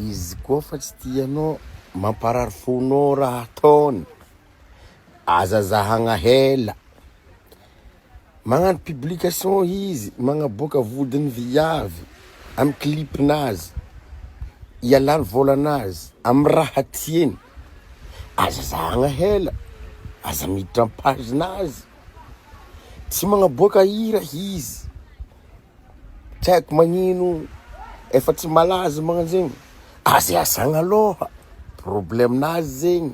izy koa fa tsy tianao mamparary fonao raha ataony aza zahagna hela Magnano publication izy, magnaboaka vodiny viavy amin'ny clip-nazy, ialany vôlanazy amin'ny raha tiany. Aza zahagna hela, aza miditra amin'ny page-nazy. Tsy magnaboaka hira izy, tsy haiko magnino efa tsy malaza magnan'zegny, aza iasagna lôha, problème-nazy zegny.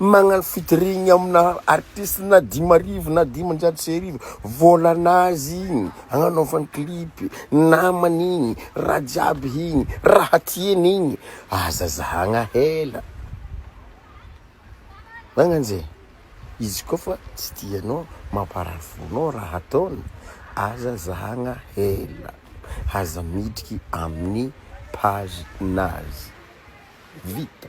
Magnano featuring amina artiste na dimy arivo na dimanjato sy arivo vôlan'azy igny agnanaovany clip, namany igny, raha jiaby igny, raha tiany igny, aza zahagna hela, magnan'ze, izy koa fa tsy tianao, mamparary fonao raha ataony, aza zahagna hela, aza miditry amin'ny page nazy, vita.